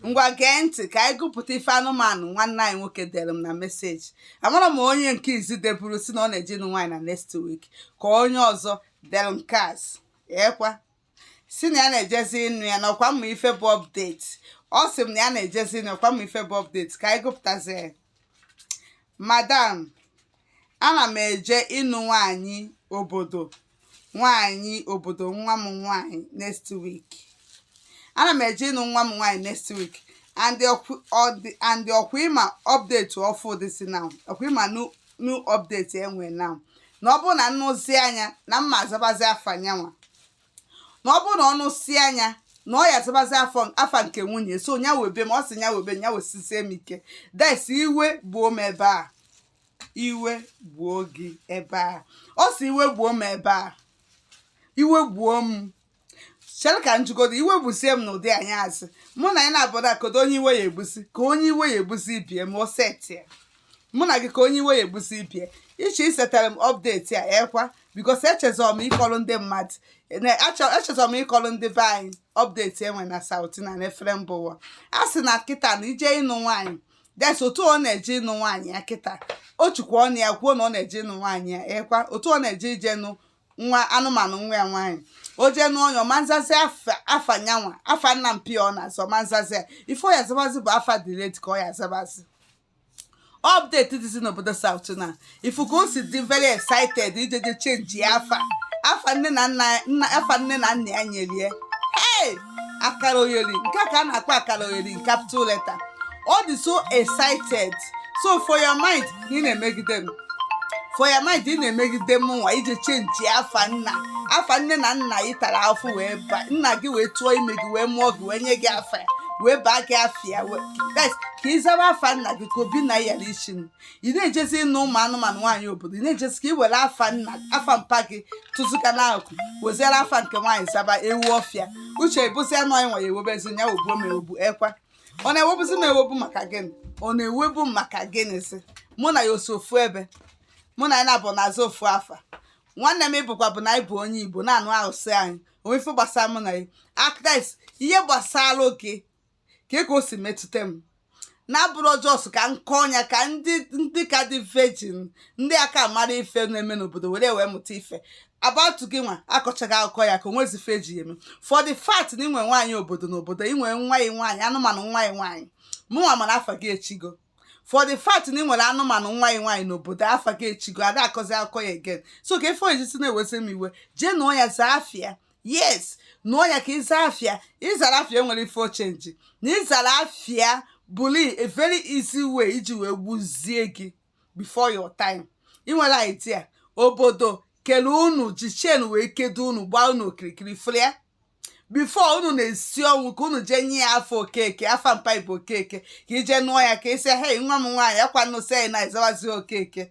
ngwa gee ntị ka anyị gụpụta ife anụmanụ nwanne anyị nwoke dere m na message amara m onye nke izi deburu sị na ọ na-eje ịnụ nwaanyị na next week ka onye ọzọ dere nke azụ ekwa sị na ya na-ejezi ịnụ ya na ọkwa m ma ife bụ update ọ sị m na ya na-ejezi ịnụ ọkwa m ma ife bụ update ka anyị gụpụtazi ya madam ana m eje ịnụ nwaanyị obodo nwaanyị obodo nwa m nwaanyị next week ana m eje ịnụ nwa m nwaanyị next week and the ọkwa ọ dị- and the ọkwa ị ma update ọfụụ dịzi now ọkwa ị ma new new update e nwe now na ọ bụrụ na m nụzia nya na m ma azabazi afa nyanwa na ọ bụrụ na ọ nụsịa nya na ọ ya azabazi afọ afa nke nwunye so nya webe m ọ sị nya webe m, nya wesizie m ike that's iwe gbuo m ebe a iwe gbuo gị ebe a ọ sị iwe gbuo m ebe a iwe gbuo m chere ka m jụgodo iwe gbusie m n'ụdị anyị azụ mụ na anyị na-abụrụ akodo onye iwe ya egbusi ka onye iwe ya egbusi ibe ya m oseti ya mụ na gị ka onye iwe ya egbusi ibe ya ị che isetara m update a ekwa because echezọ m ịkọrọ ndị mmadụ na- achọ- echezọ m ịkọrọ ndị be anyị update e nwe na South na efere mba ụwa a sị na kịta na ị je ịnụ nwaanyị that's otu ọ na-eje ịnụ nwaanyị ya kịta o jikwa ọnụ ya kwuo na ọ na-eje ịnụ nwaanyị ya ekwa otu ọ na-eje ije nụ nwa anụmanụ nwa ya nwaanyị o jee nụọ ya ọ ma na-azazi afa afa nyanwa afa nna mpa ya ọ na-aza ọ ma na-azazi ya ife ọ ya azabazi bụ afa the lady ka ọ ya azabazi update dịzi n'obodo South na ị fụ ka o si dị very excited ijeje change ya afa afa nne na nna nna afa nne na nna ya nyere ya hey akara oyeri nke a ka a na-akpọ akara oyeri in capital letter ọ dị so excited so for your mind na ị na-emegide m for your mind ị na-emegide m nwa ị je change afa nna afa nne na nna gị tara afụfụ wee ba nna gị wee tụọ ime gị wee mụọ gị wee nye gị afa ya wee baa gị afa ya wee- Guys, ka ị zaba afa nna gị ka obi na ya isi m ị na-ejezi ịnụ ụmụ anụmanụ nwaanyị obodo ị na-ejezi ka ị were afa nna afa mpa gị tụzụka n'akụkụ weziere afa nke nwaanyị zaba ewu ọfịa uche bụzi anụ anyị nwere ewebezi ya o gbuo m ewu ekwa ọ na-ewebuzi m ewebu maka gịnị ọ na-ewebu maka gịnịzi mụ na ya o si ofu ebe mụ na ya na-abụ na-aza ofu afa nwanne m ịbụkwa bụ na anyị bụ onye igbo na-anụ arụsị anyị o nwe ife gbasara mụ na ya akdis ihe gbasara gị ka ka o si metụta m na-abụrụ just ka m kọọ ya ka ndị ndị ka dị virgin ndị aka mara ife na-eme n'obodo were wee mụta ife about gịnwa akọchaghị akụkọ ya ka o nwezi ife eji ya eme for the fact na ị nwe nwaanyị obodo n'obodo ị nwe nwa ya nwaanyị anụmanụ nwa ya nwaanyị mụnwa mana afa gị echigo for the fact na ị nwere anụmanụ nwa ya nwaanyị n'obodo afa gị echigo a da akọzi akụkọ ya again so ka ife o jizi na-ewezi m iwe jee nụọ ya zaa afa ya yes nụọ ya ka ịza afa ya ị zara afa ya e nwere ife ọ change na ị zara afa ya bụli a very easy way iji wee gbuzie gị before your time ị nwere idea obodo kele unu ji chain wee kedo unu gbaa unu okirikiri fụlịa before unu na-esi ọnwụ ka unu jee nye ya afa okeke afa mpa bụ okeke ka i je nụọ ya ka ị sị hei nwa m nwaanyị akwa nnụsị anyị na-azawazi okeke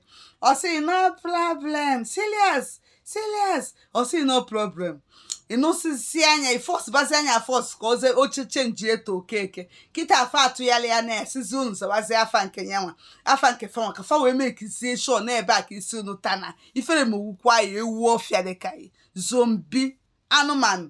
ọ sị no problem serious serious ọ sị no problem ị nụsịzịanụ ya ị force bazịanụ ya force ka o je change to okeke kịta afa atụgharịa a na-asịzị unu zawazi afa nke ya nwa afa nke fa nwa ka fa wee makezie sure n'ebe a ka isi unu tana ifere ma owukwa ya ewu ọfịa dịka zombie anụmanụ